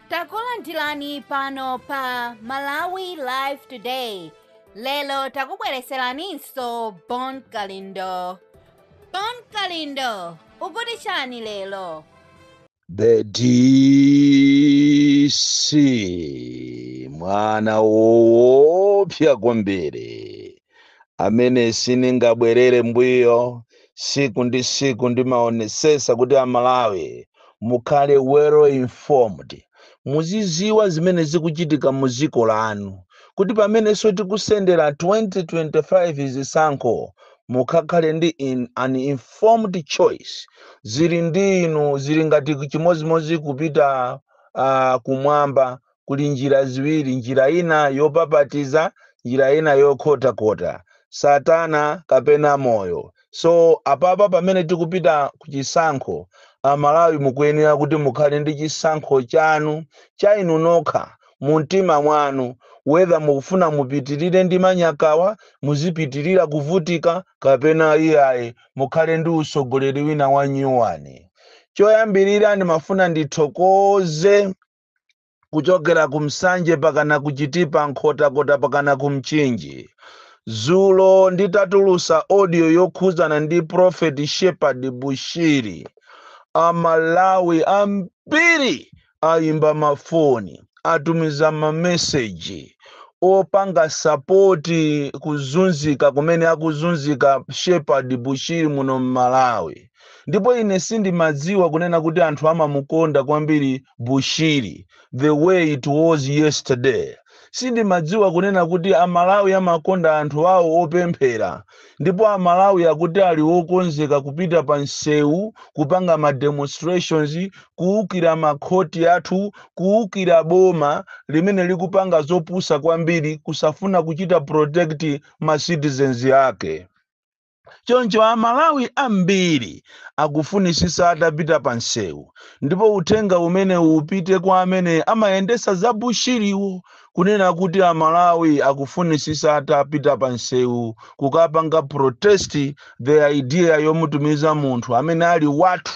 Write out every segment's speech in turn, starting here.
takulandirani pano pa malawi live today lero takubwereseraninso bon kalindo bon kalindo ukuti chani lero The DC mwana woopsa kwambiri amene siningabwerere mbuyo siku ndi siku ndimaonesesa kuti amalawi mukhale well informed muziziwa zimene zikuchitika mu ziko lanu kuti pamenenso tikusendera 2025 zisankho mukakhale ndi in, an informed choice zili ndi inu zili ngati chimodzimodzi kupita uh, kumwamba kuli njira ziwiri, njira ina yopapatiza, njira ina yokhotakhota, satana kapena moyo. So apapa pamene tikupita ku chisankho, amalawi mukuyenera kuti mukhale ndi chisankho chanu cha inu nokha mu mtima mwanu whether mukufuna mupitirire ndi manyakawa, muzipitirira kuvutika kapena iyayi mukhale ndi utsogoleri wina wa nyuwani. Choyambirira ndimafuna ndithokoze kuchokera ku nsanje pakana ku chitipa nkhotakota pakana ku mchinji zulo nditatulusa audio yokhuzana ndi prophet shepherd bushiri amalawi ambiri ayimba mafoni atumiza mameseji opanga sapoti kuzunzika kumene akuzunzika shepherd bushiri muno mmalawi ndipo ine sindimadziwa kunena kuti anthu amamukonda kwambiri bushiri the way it was yesterday sindimadziwa kunena kuti amalawi amakonda anthu awo opemphera ndipo amalawi akuti ali okonzeka kupita pa msewu kupanga ma demonstrations kuukira makhoti athu kuukira boma limene likupanga zopusa kwambiri kusafuna kuchita protect ma citizens ake Choncho Amalawi ambiri akufunitsitsa atapita pamsewu ndipo uthenga umenewu upite kwa amene amayendetsa za Bushiriwo kunena kuti Amalawi akufunitsitsa atapita pamsewu kukapanga protest the idea yomutumiza munthu amene ali wathu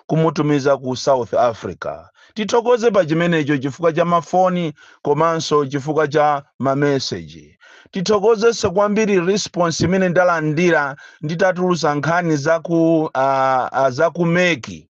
kumutumiza ku South Africa. Tithokoze pa chimenecho chifukwa cha mafoni komanso chifukwa cha mameseji. tithokozenso kwambiri response imene ndalandira nditatulusa nkhani za ku uh, uh, za ku meki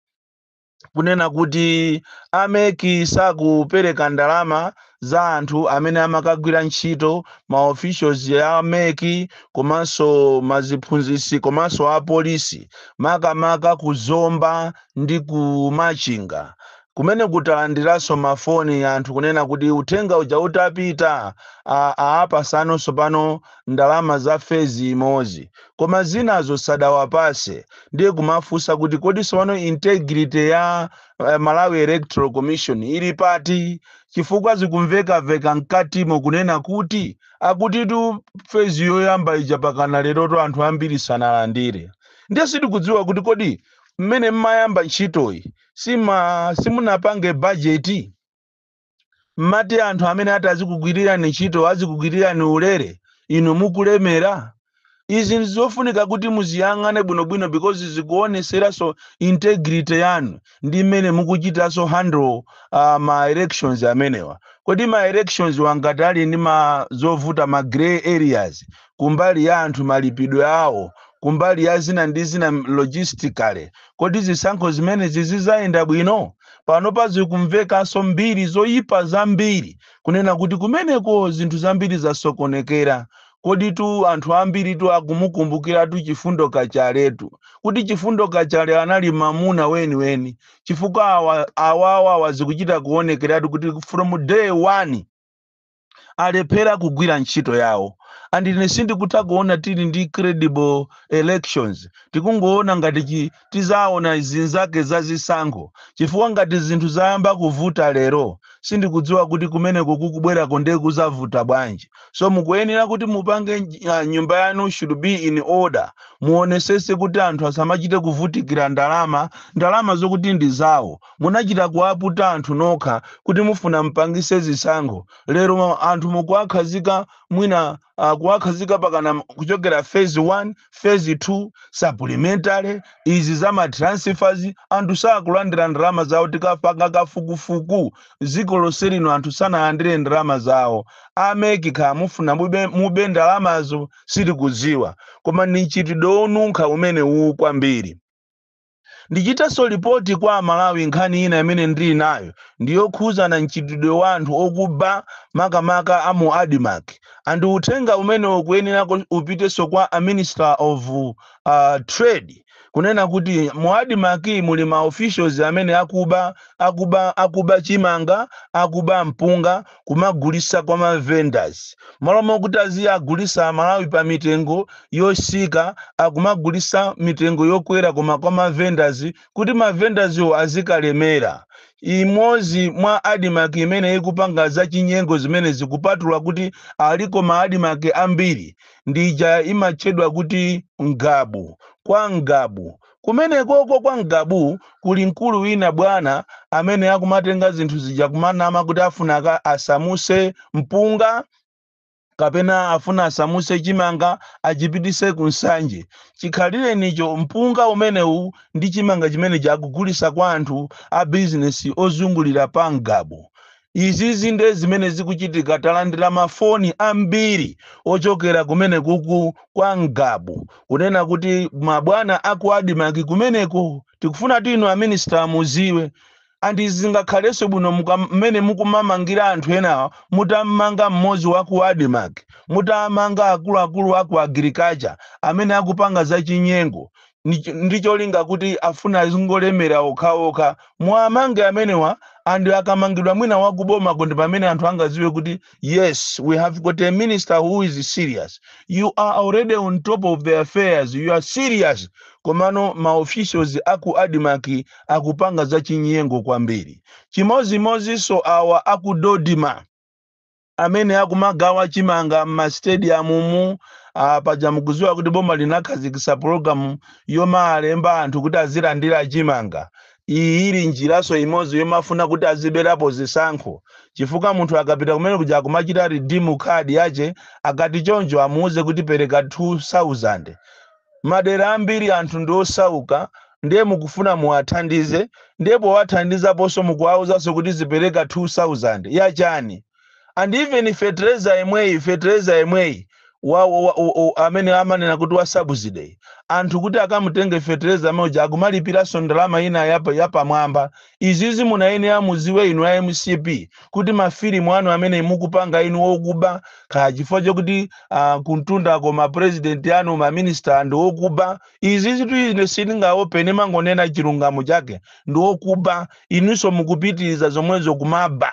kunena kuti ameki sakupereka ndalama za anthu amene amakagwira ntchito ma officials a meki komanso maziphunzisi komanso apolisi makamaka ku zomba ndi ku machinga Kumeneku talandiranso mafoni anthu kunena kuti uthenga uja utapita a aapasano tsopano ndalama za fezi imozi koma zinazo sadawapase ndiye kumafunsa kuti kodi tsopano integrity ya Malawi Electoral Commission ili pati chifukwa zikumvekaveka mkatimo kunena kuti akutitu fezi yoyamba ija pakana lerotu anthu ambiri sanalandire ndiye sitikudziwa kuti kodi mmene mmayamba ntchitoyi si- simunapange bajeti mmati anthu amene ati azikugwirirani ntchito azikugwirirani ulere inu mukulemera izi ndizofunika kuti muziyang'ane bwinobwino because zikuoneseranso integrity yanu ndi mmene mukuchitanso handle uh, ma elections amenewa kodi ma elections wa ngati ali ndi ma zovuta ma grey areas kumbali ya anthu malipidwe awo kumbali ya zina ndi zina logistically kodi zisankho zimenezi zizayenda bwino panopa zikumvekanso mbiri zoyipa zambiri kunena kuti kumeneko zinthu zambiri zasokonekera koditu anthu ambiritu akumukumbukiratu Chifundo Kachaletu kuti Chifundo Kachale anali mamuna weniweni chifukwa awa awawa zikuchita kuonekeratu kuti from day one alephera kugwira ntchito yawo and ine sindikutha kuona tili ndi credible elections tikungoona ngati chi- tizaona zinzake za zisankho chifukwa ngati zinthu zayamba kuvuta lero sindikudziwa kuti kumeneko kukubwerako ndiye kuzavuta bwanji so mukuyenera kuti mupange nj- ah, nyumba yanu should be in order muonesese kuti anthu asamachite kuvutikira ndalama ndalama zokuti ndi zawo Munachita kuwaputa anthu nokha kuti mufuna mpangise zisankho lero anthu mukuwakhazika mwina uh, kuwakhazika pakana kuchokera phase 1 phase 2 supplementary izi za ma transfers anthu sakulandira ndalama zawo tikapanga kafukufuku dziko lonse lino anthu sanalandire ndalama zawo a MEC kaya mufuna mube, mube ndalamazo sitikudziwa koma ndi mchitidwe wonunkha umenewu kwambiri Ndichitenso lipoti kwa Amalawi nkhani ina imene ndili nayo ndi yokhuzana mchitidwe wa anthu okuba makamaka a mu Admarc and uthenga umenewu ukuyenera upitenso kwa a Minister of Trade kunena kuti mu Admarc muli ma officials amene akuba, akuba, akuba chimanga, akuba mpunga. kumagulisa kwa ma vendors malo mokuti aziyagulisa amalawi pa mitengo yosika akumagulisa mitengo yokwera koma kwa ma vendors kuti ma vendors wo azikalemera imozi mwa admark imene ikupanga za chinyengo zimene zikupatula kuti aliko ma admark ambiri ndija imatchedwa kuti ngabu kwa ngabu Kumenekoko kwa Ngabu kuli mkulu wina bwana amene akumatenga zinthu zija kumanama kuti afuna aka asamuse mpunga kapena afuna asamuse chimanga achipitise ku Nsanje. Chikhalirecho mpunga umenewu ndi chimanga chimenechi akugulisa kwa anthu a bizinesi ozungulira pa Ngabu. izizi nde zimene zikuchitika talandira mafoni ambiri ochokera kumene kuku kwa ngabu kunena kuti mabwana aku admarc kumeneko tikufuna kuti inu a minister muziwe and izi zingakhalenso bwino muka- mmene mukumamangira anthu enawa mutammanga mmodzi wa ku admarc mutamanga akuluakulu aku agriculture amene akupanga zachinyengo ndi cho- ndi cholinga kuti afuna azingolemera okhaokha muwamange amenewa and akamangidwa mwina wakubomako ndi pamene anthu angaziwe kuti yes we have got a minister who is serious you are already on top of the affairs you are serious komano ma officials aku admarc akupanga zachinyengo kwambiri chimozimozinso awa aku dodma amene akumagawa chimanga m'ma stadium mu ah, paja mukuziwa kuti boma linakhazikisa pulogalamu yomawalemba anthu kuti azilandira chimanga iyi ili njiraso imodzi yomafuna kuti aziberapo zisankho chifukwa munthu akapita kumene kuja akumachita redeem card yache akati choncho amuuze kuti pereka 2000 madera ambiri anthu ndi osauka ndiye mukufuna muwathandize ndiye powathandizaponso mukuwauzaso kuti azipereka 2000 ya chani and even fetereza yemweyi fetereza yemweyi wa, wa, wa, wa, amene amanena kuti wa subsidy anthu kuti akamutenge fetereza muja akumalipiranso ndalama ina yapa- yapamwamba Izizi mumayenera muziwe inu a mcp kuti ma filimu anu amene mukupanga inu okuba kaya chifukwa chokuti a kumtundako ma president anu ma minister ndi okuba izizitu ine sindingaope ndimangonena chilungamo chake ndi okuba inuso mukupitiliza zomwezo kumaba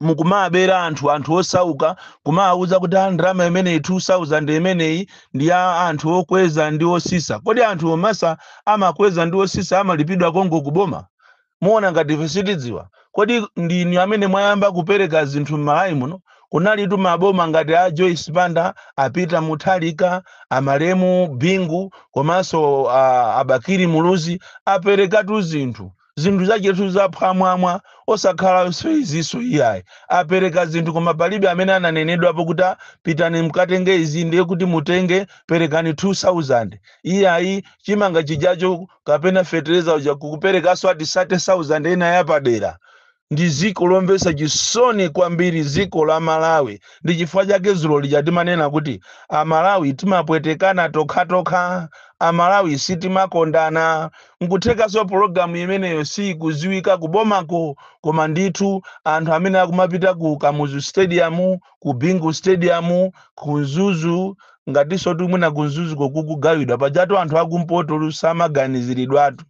mukumabera anthu anthu osauka kumawauza kuti a ndalama imeneyi 2000 imeneyi ndi ya anthu okweza ndi osisa kodi anthu omasisa amakweza ndi osisa amalipidwa konko kuboma muona ngati ife sitidziwa kodi ndinu amene mwayamba kupereka zinthu m'malawi muno kunalitu maboma ngati a joyce banda a peter mutharika a malemu bingu komanso a- a bakili muluzi aperekatu zinthu zinthu zachetu zaphwamwamwa osakhalanso izinso iyayi apereka zinthu koma palibe amene ananenedwapo kuti "Ah, pitani mkatenge izi ndiye kuti mutenge perekani 2000 iyayi chimanga chijacho kapena fetereza uja kukuperekanso ati 30000 ena yapadera ndi dziko lomvetsa chisoni kwambiri dziko la malawi ndi chifukwa chake dzulo lija timanena kuti amalawi timapwetekana tokhatokha amalawi sitimakondana nkuthekanso pologalamu imeneyo siyikudziwika kubomako koma ndithu anthu amene akumapita ku kamuzu stadium ku bingu stadium ku mzuzu ngatinso kuti mwina ku mzuzuko kukugawidwa pajatu anthu akumpoto samaganiziridwatu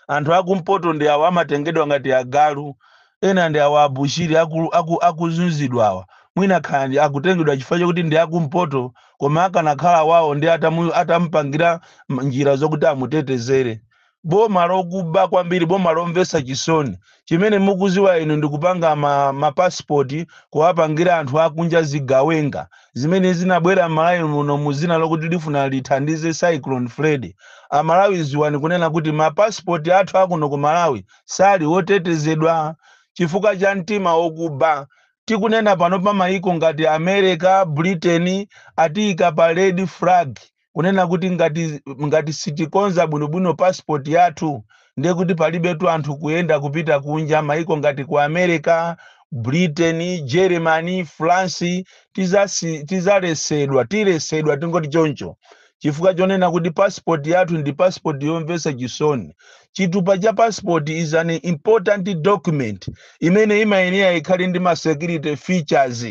anthu akumpoto ndi awa amatengedwa ngati agalu ena ndi awa abushiri aku- aku- akuzunzidwa awa mwina kaya ndi- akutengedwa chifukwa chakuti ndi akumpoto koma akanakhala wawo nde atamu- atamupangira m- njira zokuti amutetezere boma lokuba kwambiri boma lomvetsa chisoni chimene mukuziwa inu ndikupanga ma ma passport kuwapangira anthu akunja zigawenga zimene zinabwera m'malawi muno muzina lokuti lifuna lithandize cyclone freddy amalawi ziwani kunena kuti ma passport athu akuno ku malawi sali otetezedwa chifukwa cha mtima okuba tikunena pano pa mayiko ngati america britain atiyika pa red flag kunena kuti ngati ngati sitikonza bwinobwino passport yathu ndiye kuti palibetu anthu kuyenda kupita kunja maiko ngati ku america britain germany france tizasi- tizaletsedwa tiletsedwa tingoti choncho chifukwa chonena kuti passport yathu ndi passport yomvetsa chisoni chitupa cha passport is an important document imene imayenera ikhale ndi ma security features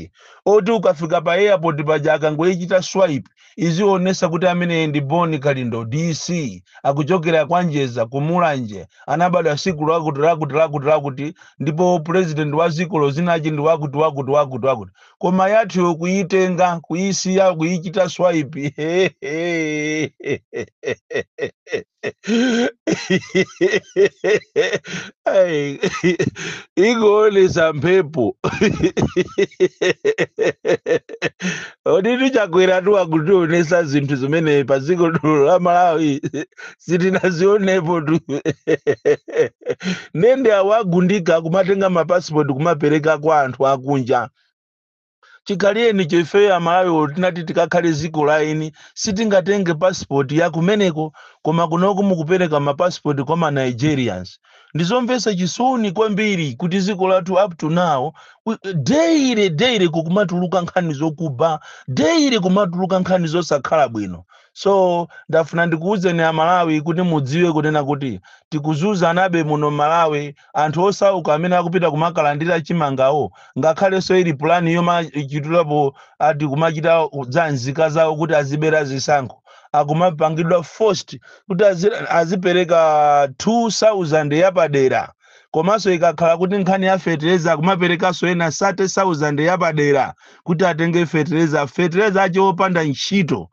oti ukafika pa airport paja akangoichita swipe Izionesa kuti ameneyi ndi Bon Kalindo DC akuchokera kwa Njeza ku Mulanje anabadwa siku lakuti lakuti lakuti lakuti ndipo president wa dzikolo dzina lake ndi wakuti wakuti wakuti wakuti koma yathuyo kuyitenga kuyisiya kuyichita swipe Ai, ingoonesa mphepo oditu chakweratu akutionesa zinthu zimene pa dziko lino la malawi sitinazionepotu nde nde awagundika kumatenga mapasipoti kumapereka kwa anthu akunja chikhalirenicho ifeyo amalawi titati tikakhale ziko la eni sitingatenge passport ya kumeneko koma kunoko mukupereka ma passport kwa ma nigerians ndizomvetsa chisoni kwambiri kuti ziko lathu up to now we- daily daily kukumatuluka nkhani zokuba daily kumatuluka nkhani zosakhala bwino so ndafuna ndikuwuzeni amalawi kuti mudziwe kunena kuti tikuzunzanabe muno malawi anthu osauka amene akupita kumakalandira chimangao ngakhalenso ili pulani yomachitirapo ati kumachita za nzika zawo kuti azibera zisankho akumapangidwa forced kuti azi- azipereka 2000 yapadera komanso ikakhala kuti nkhani ya fetereza akumaperekanso ena 30000 yapadera kuti atenge fetereza fetereza ache opanda ntchito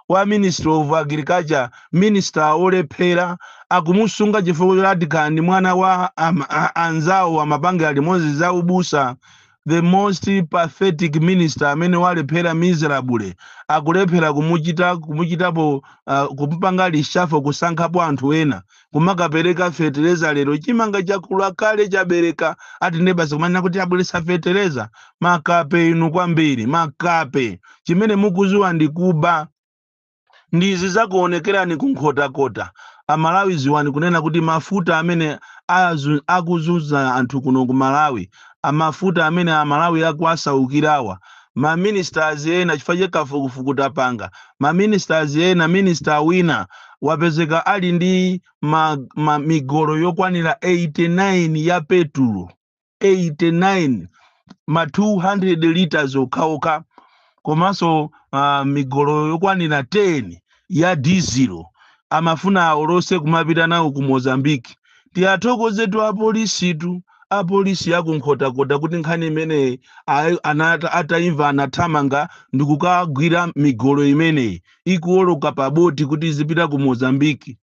wa ministry of agriculture minister olephera akumusunga chifukwa choti ati kaya ndi mwana wa am, a, anzawo amapangira limodzi za ubusa the most pathetic minister amene walephera miserably akulephera kumuchita kumuchitapo uh, kumupanga reshuffle kusankhapo anthu ena kumakapereka fetereza lero chimanga chakula kale chabereka ati nde basi kumanena kuti abweretsa fetereza makape inu kwambiri makape chimene mukuziwa ndi kuba ndi zizakuonekerani kunkhotakota amalawi ziwani kunena kuti mafuta amene azu- akuzunza anthu kuno ku malawi mafuta amene amalawi akuwasaukirawa ma ministers ena chifukwa cha kafukufuku tapanga ma ministers ena minister wina wapezeka ali ndi ma, ma migolo yokwanira 89 ya petulo 89 ma 200 liters okhaokha komanso uh, migolo yokwanira 10 ya dizilo amafuna aolose kumapita nawo ku Mozambique tiwathokozetu apolisitu apolisi a ku Nkhotakota kuti nkhani imeneyi ayi- anata ataimva anathamanga ndikukagwira migolo imeneyi ikuoloka pa boti kuti izipita ku Mozambique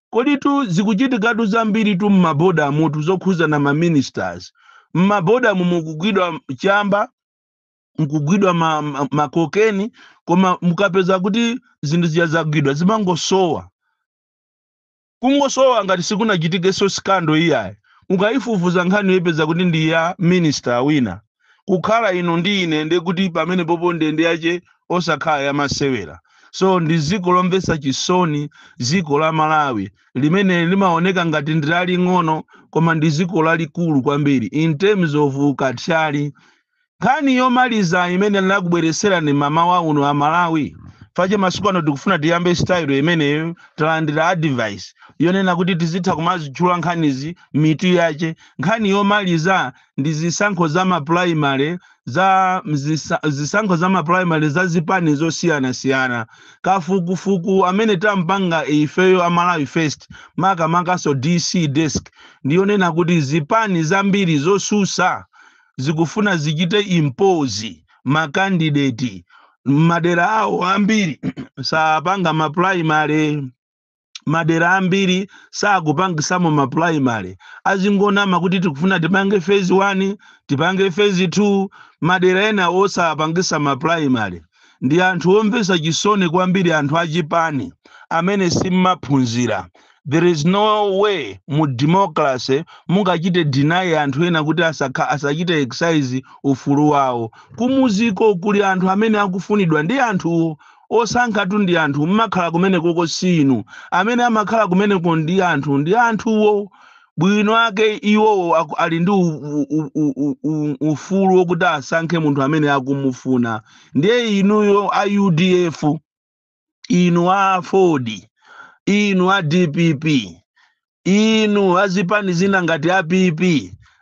koditu zikuchitikatu zambiritu mmaboda mutu zokhuza ma ministers mmaboda mu mukugwidwa chamba mukugwidwa ma- ma- makokeni koma mukapeza kuti zinthu zija zagwidwa zimangosowa kungosowa ngati sikunachitikenso sikando iyayi ukayifufuza nkhaniyo uyipeza kuti ndi ya minister wina kukhala ino ndi ine nde kuti pamenepopo ndende yache osakhala yamasewera so ndi dziko lomvetsa chisoni dziko la malawi limene limaoneka ngati ndi laling'ono koma ndi dziko lalikulu kwambiri in terms of ukathyali Nkhani yomaliza imene ndakubweretserani mamawa uno a Malawi, fache masiku ano tikufuna tiyambe style imeneyo, talandira advice yonena kuti tizitha kumazitchula nkhanizi mitu yache. Nkhani yomaliza ndi zisankho za ma primary za m'zisa, zisankho za ma primary za zipani zosiyanasiyana. Kafukufuku amene tampanga ifeyo a Malawi First, makamakanso DC desk, ndi yonena kuti zipani zambiri zosusa zikufuna zichite impose ma candidate mmadera awo ambiri sapanga ma primary madera ambiri sakupangisamo ma primary azingonama kuti tikufuna tipange phase 1 tipange phase 2 madera enawo osapangisa ma primary ndi anthu omvesa chisoni kwambiri anthu achipani amene simmaphunzira there is no way mu democracy mungachite deny anthu ena kuti asa- asachite exercise ufulu wawo kumudziko kuli anthu amene akufunidwa ndi anthuwo osankhatu ndi anthu mmakhala kumenekoko si inu amene amakhala kumeneko ndi anthu ndi anthuwo bwino ake iwowo aku- ali ndi u- u- u- u- u- u- ufulu wokuti asankhe munthu amene akumufuna ndiye inuyo a udf inu a aford inu a dpp inu azipani zina ngati a pp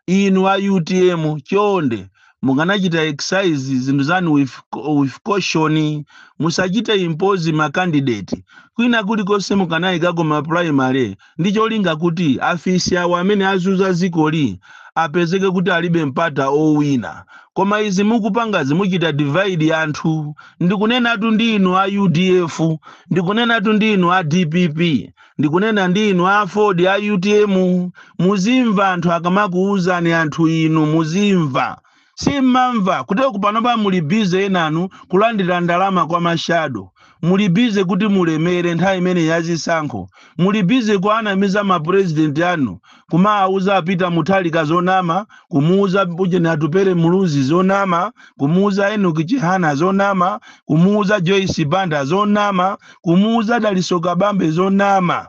inu a utm chonde mukanachita exercise zinthu zanu with caution musachite impose ma candidate kwina kulikonse mukanayikako ma primary ndi cholinga kuti afisi awo amene azunza zikoli apezeke kuti alibe mpata owina koma izi mukupangazi muchita divide anthu ndikunenatu ndi inu a udf ndikunenatu ndi inu a dpp ndikunena ndi inu a aford a utm muzimva anthu akamakuwuzani anthu inu muzimva Simumamva kuti kupanopa muli busy enanu kulandira ndalama kwa ma shadow, muli busy kuti mulemere nthawi imeneyi ya zisankho, muli busy kuanamiza ma president anu kumaauza a Peter Mutharika zonama, kumuuza ujeni Atupele Muluzi zonama, kumuuza Enoch Chihana zonama, kumuuza Joyce Banda zonama, kumuuza Dalitso Kabambe zonama.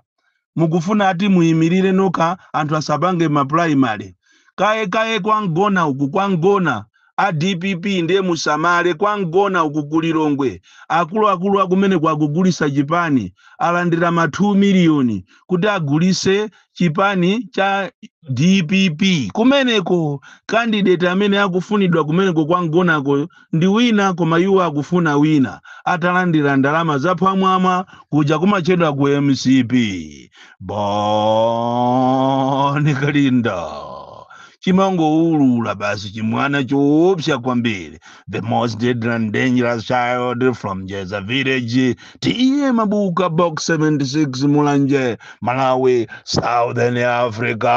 mukufuna ati muyimirire nokha anthu asapange ma primary kaye kaye kwa mgona uku kwa mgona a dpp ndiye musamale kwa mgona uku ku lilongwe akuluakulu akumeneko akugulitsa chipani alandira ma 2 miliyoni kuti agulitse chipani cha dpp kumeneko candidate amene akufunidwa kumeneko kwa mgonako ndi wina koma iwo akufuna wina atalandira ndalama zaphwamwamwa kudya kumachedwa ku mcp bon kalindo chimangoulula basi chimwana choopsa kwambiri the most deadly and dangerous child from jeza village t a mabuka box 76 mulanje malawi southern africa